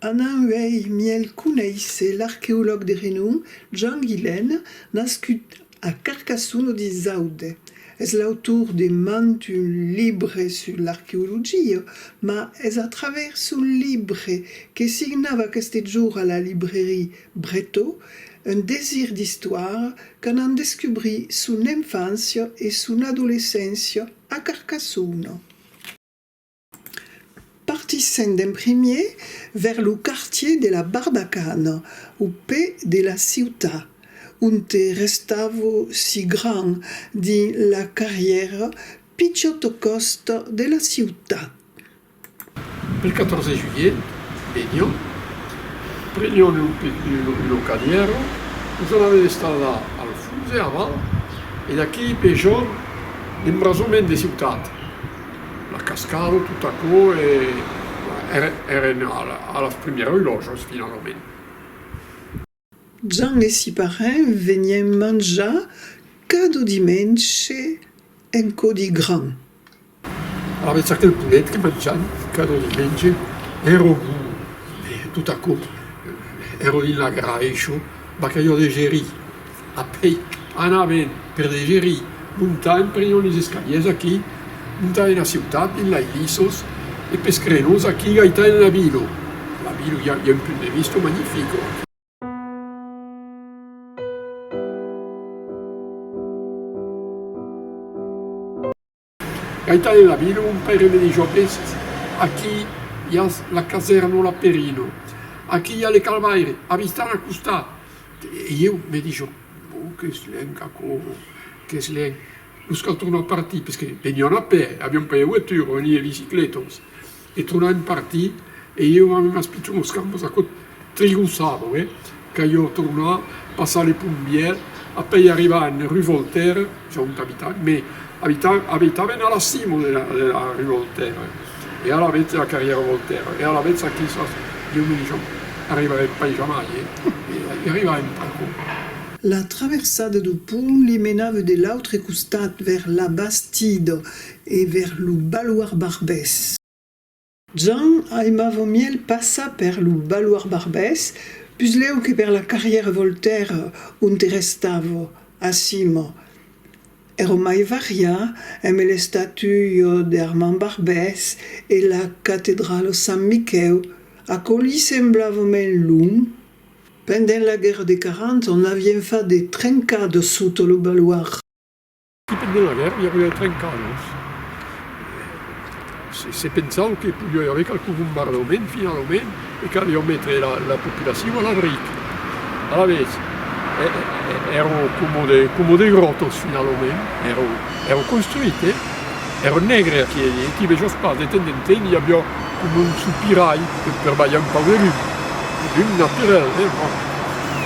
Anant uèi mièlh conéisser l'arqueològ de renom Jean Guilaine, nascut a Carcassonne au dis aude. Es l'autor de mand un libre sus l'arqueologia, mas es a travèrs son libre que signava aqueste jorn a la librèri Bretau un desir d'istoire que n'an descubrit son enfància e son adolescéncia a Carcassona. Partissent en primier vers lo quartier de la Barbacana, au pè de la ciutat, onte restavo si grand dins la carrièra pichòt au còst de la ciutat. Per 14 de julhet venion, prenion lo camièron, nos anaven estar la al Fluxe aval e d'aquí pe jorn l'embrazonment de ciutat, la cascada tot aquò e èren a las primièras lòjas finalament. Jan e si parèn venien manjar cada dimenge en codi gran. Avètz aquel polet que manjan cada dimenge? Ero bu, totacò, ero dins la graisho, bacalhau de gerí, a pei. Anaven per de gerir, montaen per ion es escaliers aquí, montaen a ciutat dins lai lissos e pes crenos aquí gaitaen la vilo, la vilo i a un punt de visto magnifico. Gaitan e Nabilo, un paire de dijòqueis, Aquí i a la casèrnola Perino, aquí i a le Calvaire, avistan a costat. E ieu me dijo, Bon, qu'es luènh, qu'aquò, qu'es luènh. Nos cal tornar partir, perque venián a pè, avián pas de voitura, venián de biciclètas. E tornar en parti e ieu a unas pichonos campos aquò trigo sabo eh ca ieu tornar passar le pont vièlh a pei arribar en rue Voltaire ja ont abitat me abita abitaven a la cimo de la de la rue Voltaire e alavetz de la carrièra Voltaire e alavetz aquí sas ieu me dishon arribarem pas jamai eh i arribarem pas non. La traversada du pont li menave de l'autre costat vers la Bastide E ver lo baloir Barbès. Jan aimava mièlh passar per lo baloir Barbès, puslèu que per la carrière Voltaire onte restava, acima. Ero mai variar emb l'estatuio de Armand Barbès e la catedralo Sant Miquèu, aquò li semblava mènh long. Pendent la guèrra de 40 ans, n'avien fat de trencada sota lo baloir. Qui pendent la guèrra i aviá trencadas. Se pensau que podiá i aver qualque bombardament finalament e qu'aliá metre la populacion a l'abric. Alavetz, èra coma de gròtos finalament, èra construit, eh? Èra negre aqueri, e qui vejós pas, de temps en temps i aviá coma un sopirai per balhar un pauc de lum, de lum naturel, eh? Bon.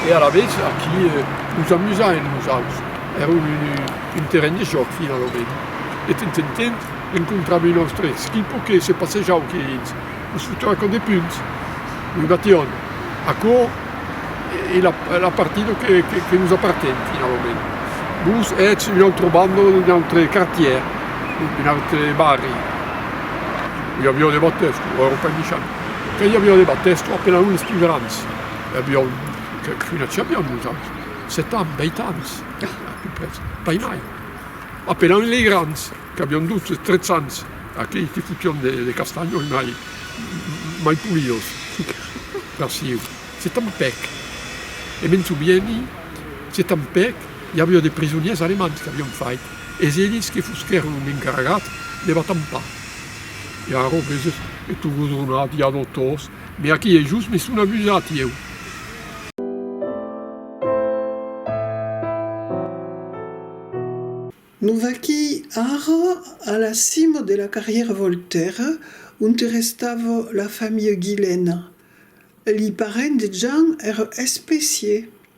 E alavetz, aquí nos amusaen nosaus. Èra un terren de jòc, finalament, e tant en tant encontrava un òste esquipo que se passejava qué dins, los fotava còp de punhs, lo bateòn, aquò es la partida que nos aparten, finalament. Vos ètz un autre banda, d'un autre quartièr, d'un autre barri. I aviá de batèsti, o èra pas michan. Quand i aviá de batèsti, apelavan los pus grans. I aviá qualqu'una champion, nosaltres. Sèt ans, vèit ans, apupres, pas mai, apelant lei grands, qu'avián dotze, trètz ans, aquei que fotión de castanhos mai, mai polidos, farciu. Se tanpèc, e me'n sovieni, se tanpèc, i avió de prisonièrs alemands qu'avión fait, es elis que fosquèron encarregats de la tampar. Eran robeses e togos ronats, ja dotors, Be aquí e just me son abusat ieu. Nos vaquí ara a la cima de la carrièra Voltèra onte restava la familha Guilena. Li parents de Jean èra especier.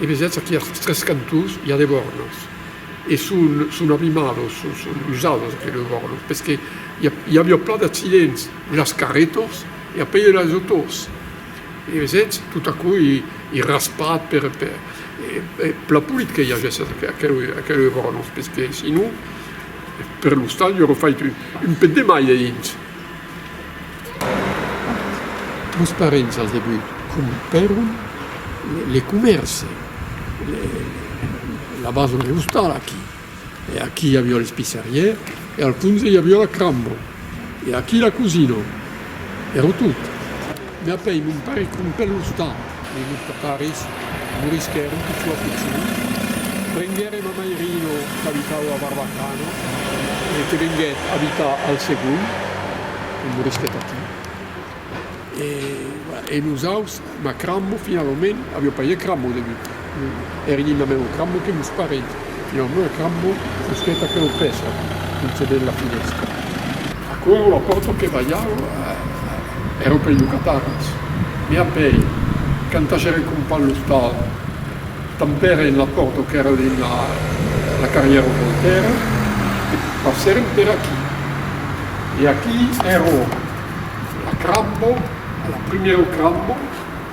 E vesètz aquí als tres cantons i a de vòrnos, e son abimados, son usados aquí los vòrnos, perque i aviá plan d'accidents de las carretas e apei de las autos, e vesètz, tot aquò ei raspat per la polit que i agèsse aqueles vòrnos, perque sinon. Per l'ostal jo refai que un pet de mai eint los parents al debut compèron le comèrce la basa de l'ostal aquí e aquí i avió les pisserier e al fons i avió la cramba e aquí la cosina ero tot. Me apèi mon paire qu'un pèl ostant, e lo paparis morisquèr un pichó acuchut. Prenguère ma mairino qu'abitava a Barbacana e que venguèt abitar al Segon, e morisquèt aquí. E, voilà, e nosaus, ma crammo finalament, avió paire crammo au debut. Eri lo meu crambo que vos parei. E lo meu crambo fusquèt aquela pèça, concebèt la finèstra. Aquerò la pòrta que balhava èra pei lo catarras. Me apèi, canta j'èra compà l'ostal, tanpèra en la pòrta qu'èra dins la carrièra Voltèra, e passèrem per aquí. E aquí èra la crambo, la primièra crambo.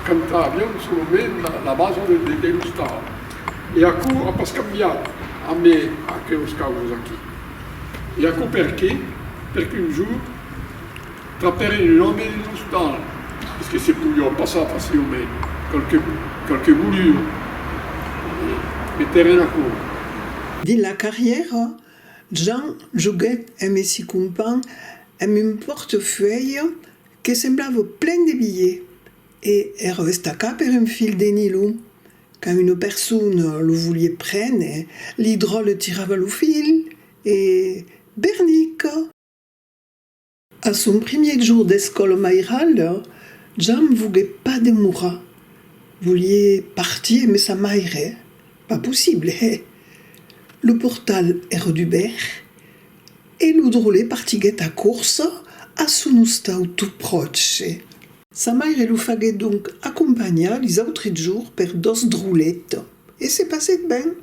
Cantavián solament la basa del detèn ostal, e aquò a pas cambiat amb aqueus causas aquí. E aquò perqué? Perque un jorn trapèren un òme en ostal, esque se podiá passar facilament, qualque bolur, e metèren aquò. Dins la carrièra, Jean joguèt amb si companh amb un pòrtefeuille Que semblavo plen de bilhe e ero estacà per un fil de nilho. Quand una persona lo volie prene, l'idrò le tirava lo fil e, bernica! A son primier jour d'escòla mairala, Jam vogué pas demorar. Volie partir mes sa maire, pas possible, hè! Lo portal ero dubèrt E lo drole partiguèt a corsa a son ostau tot pròche. Sa maire lo faguèt donc acompanhar lis autres jours per dos drolet, e se passèt ben.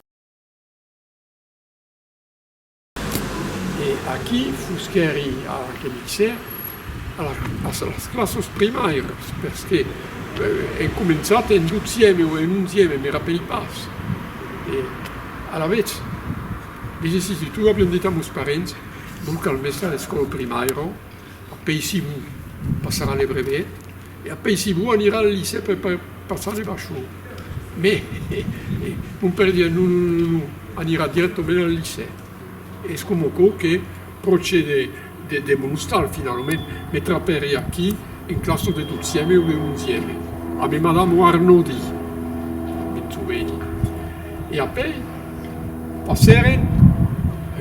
E aquí fusquèri a l'Arquebisser, a las classes primaires, perque èn començat en dotzième o en onzième, me rapèli pas, e alavetz. Diguessi que tu aviam dit a mos parents, non cal mester a l'escòla primaira, apeissivo passarà le brevet e apeissivo anirà al licèu per passar le bachon. Me, he, he, mon paire diá, non, non, non, non, anirà dirèctament al licèu. Es coma aquò que. Procede de demonostar finalament me trapèri aquí en classa de dotzième o de onzième abe madamo Arnodi, me trobèri, e apèi passère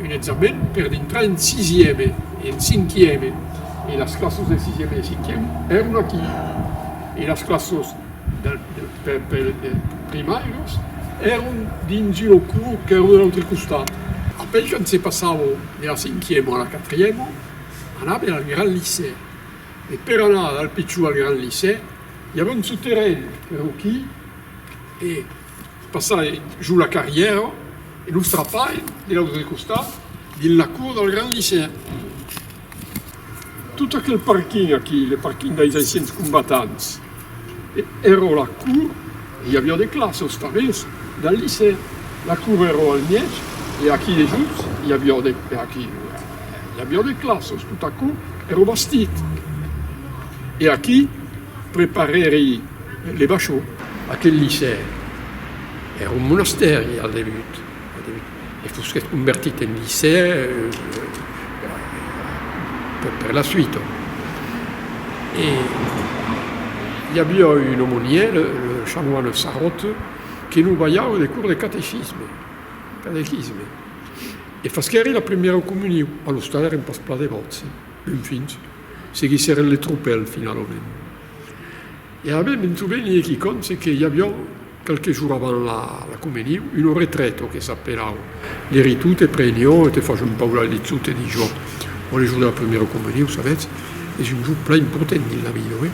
un examen per dintrar en sisième e en cinquième e las classes de sisième e de cinquième èron aquí e las classes per primar los èron dins un oculu qu'èron de l'autre costat. Apèi quand se passava de la cinquièma a la quatrièma anava al grand licè e per anar del pichon al grand licè i avèa un soterren per lo quí e passava jo la carrièra e lo trapaven de l'autre costat dins la cour del grand licè. Tot aquel parking aquí, le parking dei anciens combatants, èra o la cour e i aviá de classe os tanbèrs del licèu. La cour èra al mièg e aquí dejuts i aviá de, e aquí, i aviá de classes. Tot aquò èra o bastit e aquí preparèri le bachon. Aquel licèu èra o monastèri al debut. E fusquèt convertit en licèu per la suite. E i aviá un aumonièr, le chanoine Sarraute, que non balhava de cours de catechisme, catequisme, e fasquèri la primièra comunion. Alos tard èren pas plan devòts, enfin, seguissèren le tropèl finalament. E a mi me'n soveni e quicòm, se que i aviá Qualques jours avant la communion, un autre traitor que s'apelava Leritot e prenio e te fach un pauc la liçon, te dis jo. Ò le jour de la première communion, sabètz, es un jour plan important dins la vida, oi?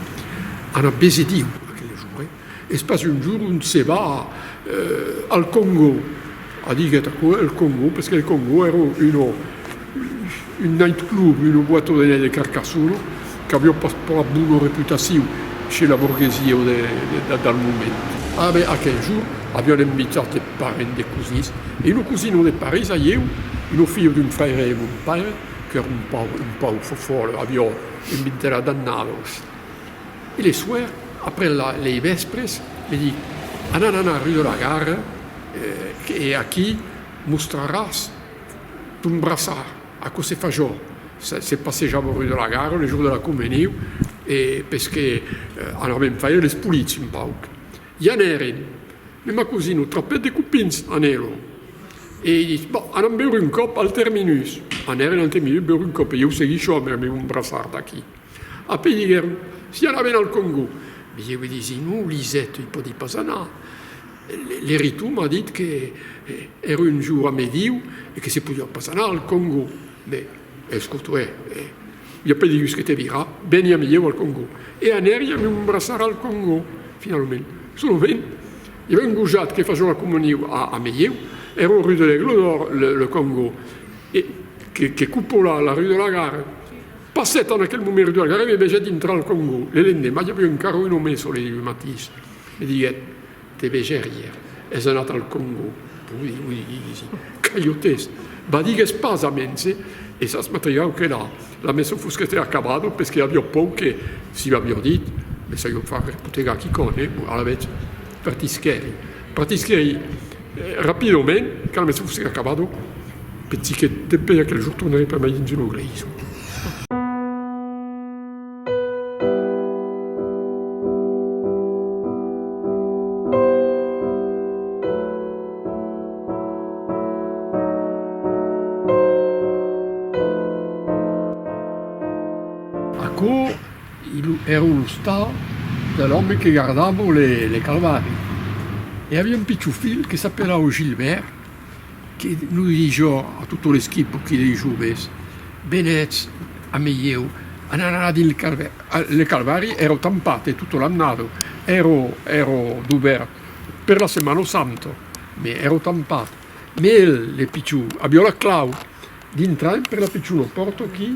Ana bese Diu, aquel jour, oi? Es pas un jour ont se va al Congo. Adiguèt aquò el Congo, perque el Congo èra un night club, una boîte de nèit de Carcassona, qu'aviá pas plan bona reputacion chez la borguesia del moment. A ben aquel jorn avián envitat de parents, de cosins, e una cosina de París, a ieu, una filha d'un fraire de mon paire, qu'èra un pauc fofolle, aviá envitat a d'annalos. E le soir, après lei vèspres, me dic, Anan anar rue de la Gare e aquí mostraràs ton braçard, aquò se fa jo, se passejam rue de la Gare le jour de la Comeniu e pes que anavem faire les polits un pauc. I anèrem, me ma cosina trapèt de copins en Elo e i ditz, Bon, anam beure un còp al Terminus. Anèrem al Terminus beure un còp e ieu seguisho a aver-me mon braçard aquí. Apèi diguèron, Si anaven al Còngo. Li deu disi, Non, Lisèt, i pòdi pas anar. L'eritor m'a dit que èra un jour a mediu e que se podiá pas anar al Còngo. Mès escota, hè, hè. I apèi digues que te virà, veni a mediu al Còngo. E anèri a un braçar al Còngo, finalament. Solament, i avèu un gojat que fació la comuniu a mediu, èra au rue de l'Aigle d'Or, le Còngo, e que copolà la rue de la Gare. Passèt en aquel moment de la gara e me vegèt intrar al Còngo. Le lendemà i aviá encara un òme solelh lo matís. Me diguèt, Te vegèr ièr, es anat al Còngo. Ui, ui, li disi. Cayotes! Bah, digues pas, amens e es as matrigau que la, la maison fos qu'estèr acabada, pes que aviá pòur que, si m'aviá dit, me saió far espotegar quicòne, alavetz, partisquèri. Partisquèri rapidament, quand me sufré acabado, pensi que dempè aquel jorn tornaré pas mai dins lo greisson. Aquò Illo ère lo stal de l'òme que gardava le calvari. E aviá un pichon filh que s'apelava Gilbèrt, que lo didie jo a tota l'esquipa qui lei joves, Venètz a meieu, anam anar dins le calvari. Le calvari ère tampat e tota l'annada, ère ère dubèrt per la Setmana Santa, me ère tampat. Me el, le pichon, aviá la clau, dintram per la pichona pòrta qui,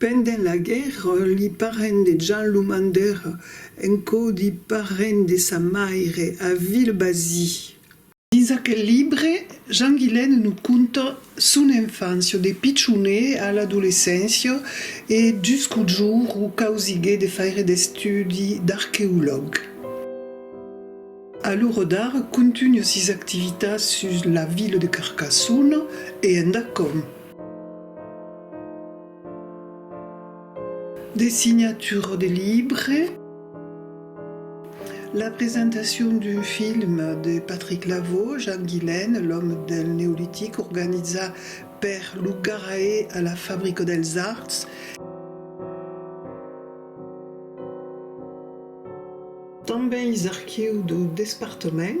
Pendent la guèrra, li parents de Jan lo mandèr en caudi parent de sa maire a Vilbazii. Dins aquel libre, Jan Guilène nos conta son enfància de pichonet a l'adolescéncia e jusqu'au jour uu causiguèt de faire d'estudi d'arqueològ. A lo rodar, contunha sis activitats sus la vila de Carcassona e endacòm. De signature de libre. La presentacion d'un film de Patrick Lavaux, Jean Guilain, l'òme del Neolitic, organiza per lo Garae a la Fabrica dels Arts. Tanben is archius dau despartament.